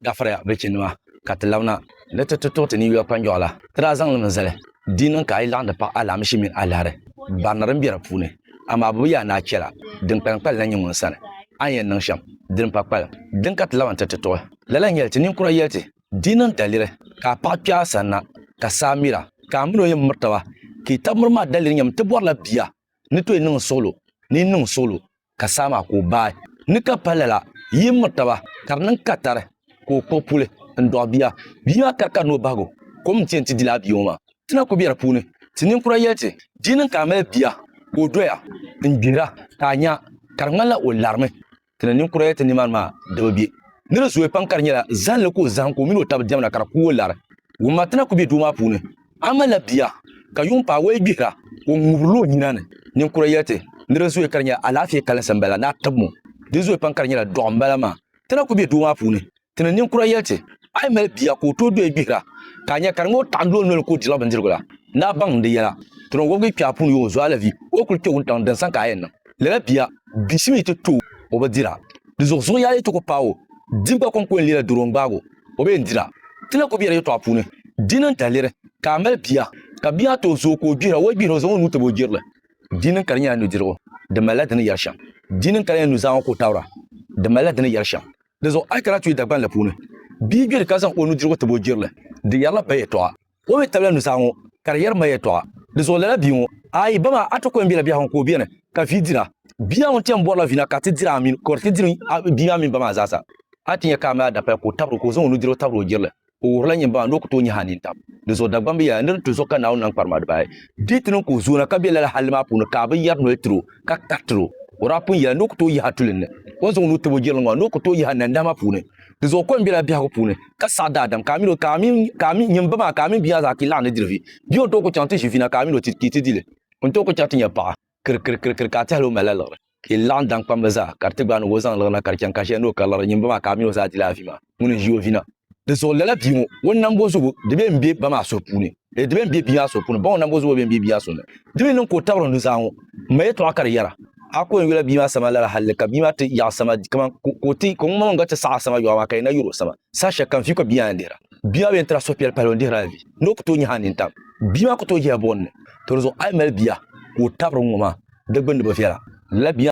Gafiriya, bilichinnima, ka ti labina ni ti ti tuɣi ti ninyuya kpanjɔɣu la. Ti daa zaŋ li mi zali di yi niŋ ka a yi laɣim di paɣi alaamishi mini alahiri barina din be di puuni. Amaa bɛ bi yaa ni a chɛla din kpalim kpalim na nyin ŋun sani. A ni yɛn niŋ shɛm din pa kpalim din ka ti labi n-ti ti tuɣi. Lala n-nyɛ li ti ninkura yɛli ti, di yi niŋ daliri ka a paɣa kpe a sani na ka saa miri a, ka a mini o yɛn miri taba, ka yi tab miri maa daliri nyɛmi ti bɔrila bia ni tooi niŋ suɣulo ni yi niŋ suɣulo ka saa maa ka o baai ni ka pa lala yi miri taba ka di niŋ katari ka o kpuɣi puli n dɔɣi bia bia maa kari ka ni o bahigu kom n ti yɛn ti dila a bia ŋɔ maa ti na ku be di puuni ti ninkura yɛli ti di yi niŋ ka a mali bia ka o doya n gbihira ka a nya ka di ŋmanila o larimi ti ni ninkura yɛli ti nimaani maa di bi be ni di zooi pam ka di nyɛla zalinli ka o zahim ka o mini o taba diɛmda ka di ku o lari wumma ti na ku be duu maa puuni A malila bia, ka yuŋ paai o ya gbihira, ka o ŋubirila o nyina ni. Ninkura yɛli ti ni di zooi ka di nyɛla alaafee kalinsi m-bala ni a tibim o. Di zooi pam ka di nyɛla dɔɣu m-bala maa. Ti na ku be doo maa puuni, ti ni ninkura yɛli ti, A yi mali bia ka o tooi doya gbihira, ka a nya ka di ŋɔ taɣindi o noli ka o dirila bindirigu la, ni a baŋ di yɛla. Ti ni wɔbigi kpɛɣu puuni yooi zuɣu alavi o kuli kpe wuntaŋ din sani ka a yɛn niŋ lala bia. Bishim yi ti tooi o bi dira, di zuɣuzuɣu yaali yi ti ku paai o, di gba kɔŋko yɛn leela doro n-gbaag o. o bee n-dira. Ti na ku bela yɛtɔɣa puuni. Dini n-taliri ka a mali bia, ka bia maa tooi zooi ka o gbihira, o yi gbihira o zaŋ o nuu tabi o jirili. Dini n-kali nyɛla nudirigu, di malila di ni yɛri shɛm. Dini n-kali nyɛla nuzaa ŋɔ ka o tabira, di malila di ni yɛri shɛm. Dinzuɣu a yi kana tuui Dagbanli puuni, bia gbiri ka zaŋ o nudirigu tabi o jirili, di yɛrila ba yɛtɔɣa. O mi tabila nusaa ŋɔ ka di yɛri ma yɛltɔɣa di zuɣu lala bia ŋɔ, Ayi, ba maa, a ti kɔŋ bela biɛhigu ka o beni, ka vi dira. Bia ŋun chani bɔrila vi na ka ti diri a mini, ka o di ti diri bia maa mini ba maa zaasa. A ti nya ka a mi a dapaya ka o tabiri o, ka o zaŋ o nudirigu tabiri o jirili. O wuhirila nyini ba maa ni o ku tooi nyahi a nini tam di zuɣu Dagbaŋ bi yɛli, Nir nti zo ka Naawuni nam kparima dibaayi. Di ti niŋ ka o zooi na ka be lala halli maa puuni ka a bi yɛri noli tir o, ka karitiri o. O daa pun yɛla ni o ku tooi yahi a tulinni. O ni zaŋ o nuu tabi o jirili ŋɔ maa ni o ku tooi yahi a nandahima puuni. Di zuɣu kom bela biɛhigu puuni, ka saɣi daadam, ka a mil o, ka a mini, ka a mini, nyin ba maa, ka a mini bia maa zaa kpi laɣim ni diri vi. Bia o tooi ku chaŋ ti ʒi vina, ka a mil o ti kpi ti di li. O ni tooi ku chaŋ ti nya paɣa. Kir, kir, kir, kir, ka a tɛhila o malila liɣiri. Ka yi laɣim daŋkpamli zaa, ka di ti gbaai ni ka o zaŋ liɣiri na, ka di chaŋ ka shɛli ni o kari liɣiri nyin ba maa, ka a mil o zaa di li a vi maa, ŋuni n-ʒi o vina. Di zuɣu lala bia ŋɔ, o ni nam bo zugu, di bee m-be ba maa suhu puuni. Ee, di bɛn be bia maa so puuni, baŋɔ nambo zubu bɛn be bia so ni. Di mi niŋ ka o tabiri o nuzaa ŋɔ, m-mali yɛtɔɣa ka di yɛra, A ko n-yula bia maa sani lala halli ka bia maa ti yaɣi sama kaman ka o ti, ka ŋumbɔŋɔ gba ti saɣi a sama yɔɣu maa ka yɛn na yuri o sama. Saha shɛli kam viu ka bia maa yɛn dihira. Bia maa bi yɛn tira suhupiɛlli pahila o ni dihiri a vi, ni o ku tooi nyahi a nini tam. Bia maa ku tooi yɛla buɣim ni, Tɔ di zuɣu a yi mali bia ka o tabiri n ŋɔ maa, di gbinni bi viɛla. Lala bia.